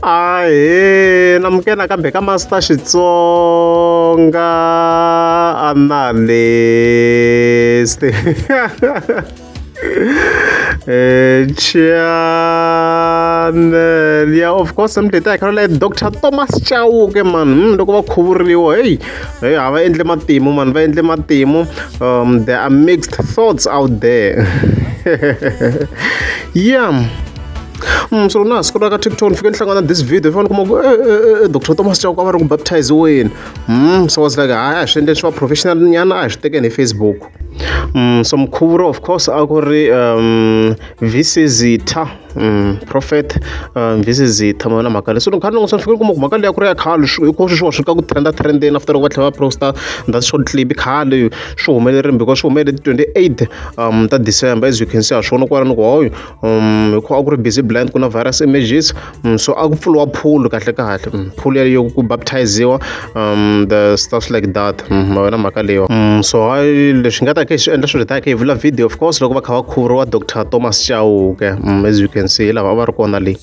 ahee namukela kambe ka master xitsonga analyst eh, channel ya of course mdleti a hi khara leyi dr thomas chauke man hmm, loko va khuvuriwa heyi heyi a va endle matimu man va endle matimu um there are mixed thoughts out there yeah so na siku ra ka tiptoe ni fike ni hlangana this video i fanele kuma ku eh, eh, eh, doctor thomas chauke a va ri ku baptiziweni mm, so was like hayi a hi swi endleni swi va professional nyana a hi swi tekeni hi facebook mm, so mkhuvuro of course a ku ri um, visizitha um, prophet um, visizitha mona mhaka leyi so nkarhi loko sani fike ni kuma ku mhaka leyi a ku ri ya khale hikuva swi swiwa swi ka ku trenda trendeni after loko va tlhela va prosta that short clip khale swi humelerile because swi humelele ti-twenty eight um, ta december as you can see ha swona kwala ni ku hoyo um hi ku a ku ri busy blind ku na virus images um, so a ku pfuriwa phulu kahle kahle um, phulu yaleyo ku baptiziwa um the stuff like that um, wena mhaka leyiwa um, so hayi leswi nga ta ke swi endla swilo ta ke hi vula video of course loko va kha va khuvuriwa dr thomas chauke um, as you can see hi lava a va ri kona leyi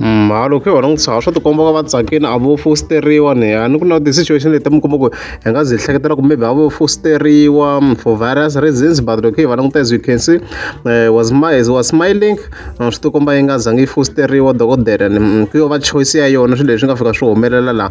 mhalo khe wena n'wi tshava swa tikomba ka va tsakini a vo fosteriwa ni ya ni ku na ti-situation leti mi kuma ku hi nga zi hi hleketela ku maybe a vo fosteriwa for various reasons but loko hi va languta as you can see uh, was, as was smiling eh, swi tikomba yi nga zangi yi fosteriwa dokodela ni mm, ku yo va choice ya yona swilo leswi nga fika swi humelela laha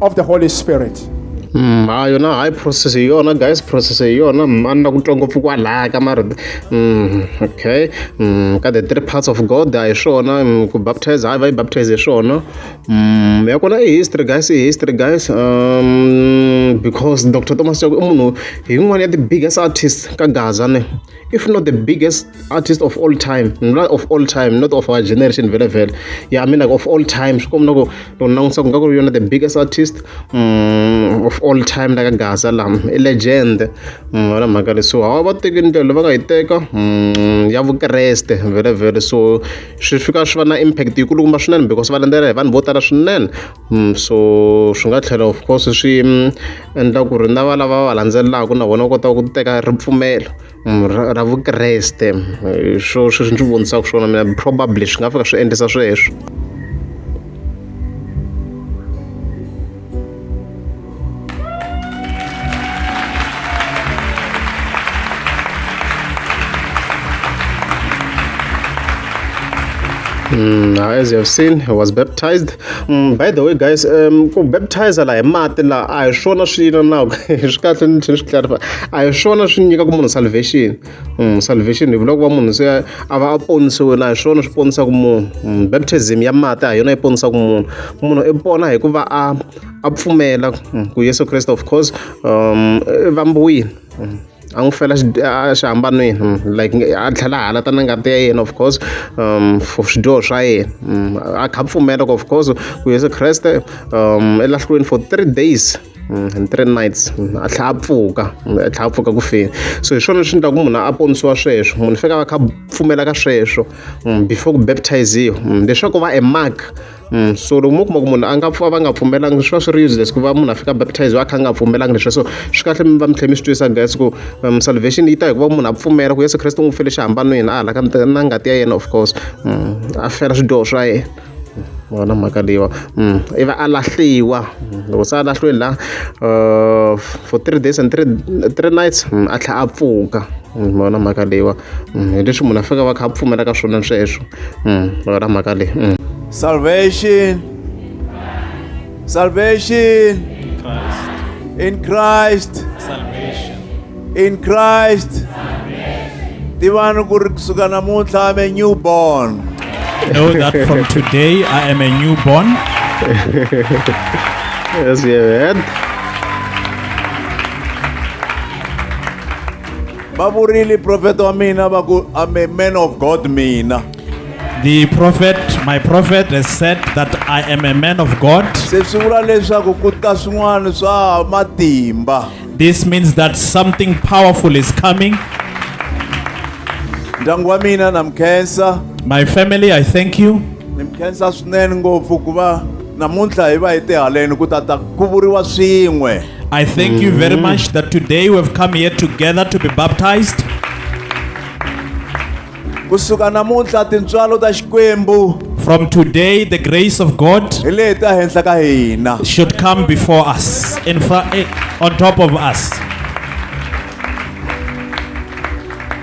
of the Holy Spirit. Mm, ha yona high process hi yona guys process hi yona mm, a ni na ku twa ngopfu kwalaya ka mara mm, okay mm, ka the three parts of god a hi swona mm, ku baptize hayi va yi baptize hi swona mm, ya kona i history guys i history guys um, because dr thomas chako i munhu hi yin'wana ya the biggest artist ka gaza ne if not the biggest artist of all time not of all time not of our generation vele vele yeah i mean like of all time swi komna ku loko langutisa ku nga ku ri yona the biggest artist um, of all time la ka gaza lama i legend mm, wala mhaka le so hawa va teki ndlela va nga yi teka mm, ya vukreste vele vele so swi fika swi va na impact yikulukumba swinene because va landzela hi vanhu vo tala swinene so swi nga tlhela of course swi endla ku ri na va lava va landzelelaka na vona va kota ku teka ripfumelo ra ra vukreste hi swo sweswi ni swi vonisaka swona mina probably swi nga fika swi endlisa sweswo. Mm, as you have seen he was baptized mm, by the way guys um, ku baptize la hi mati la a hi swona swi na na swi kahle ni tlhela swi clarify a hi swona swi nyika ku munhu salvation mm, salvation hi vula ku va munhu se a va a ponisiwile a hi swona swi ponisaka munhu mm, baptism ya mati a hi yona yi ponisaka munhu munhu i pona hi ku va a a pfumela mm, ku yesu kreste of course um va mbuyini mm, a n'wi fela xihambanweni mm, like a tlhela hala ta na ngati ya yena of course um for swidyoho swa yena a kha pfumela ku of course ku yesu kreste um elahlweni for three days and three nights a tlhela a pfuka a tlhela a pfuka ku feni so hi swona swi endlaku munhu a ponisiwa sweswo munhu fika va kha pfumela ka sweswo before ku baptiziwa leswaku va e mark so loko mo kuma ku munhu a nga pfa va nga pfumelanga swi va swi ri useless ku va munhu a fika baptize va kha a nga pfumelanga leswi so swi kahle mi va mi tlhela mi swi twisa that's ku um, salvation yi ta hi ku va munhu a pfumela ku yesu kreste n'wi fele xihambanweni a hala ka na ngati ya yena of course mm, a fela swidyoho swa yena vona mhaka leyiwa mm, ivi a lahliwa mm, loko se a lahliweni la uh, for three days and three, three nights a tlhela a pfuka vona mhaka leyiwa hi leswi munhu a fika va kha a pfumela ka swona sweswo ra mhaka leyi salvation salvation in christ salvation in christ tivani ku ri kusuka namuntlha ame new born know that from today I am a newborn. yes, yeah, man. va vurile profeta wa mina va ku i'm a man of god mina The prophet, my prophet, has said that I am a man of God. se swi vula leswaku ku ta swin'wana swa matimba This means that something powerful is coming. ndyangu wa mina na mi khensa My family, I thank you. ni mi khensa swinene ngopfu ku va namuntlha hi va hi tihaleni ku tata ku vuriwa swin'we I thank you very much that today we have come here together to be baptized. kusuka namuntlha tintswalo ta xikwembu From today, the grace of God hi leyi ta henhla ka hina should come before us, in front, on top of us.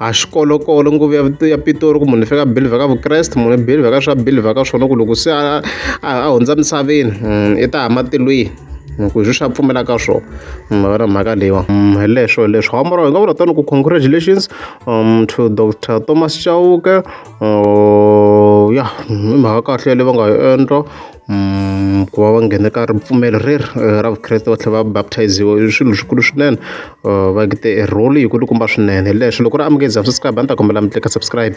a swi kolokolo nguva ya ya pitori ku munhu i faneke a believer ka vukreste munhu i believer ka swa believer ka swona ku loko se a a a hundza misaveni i ta hama tilweni hi ku hi swi swi a pfumela ka swona ma vona mhaka leyiwa hi leswo hi leswo hamba ra hi nga vula tano ku congratulations um to dr thomas chauke ya i mhaka kahle leyi va nga yi endla ku va va nghena ka ripfumelo reri ra vukreste va tlhela va baptize-iwa i swilo swikulu swinene va te role yi kulukumba swinene leswi loko ri amukeli za subscribe a ni ta kombela mi tleka subscribe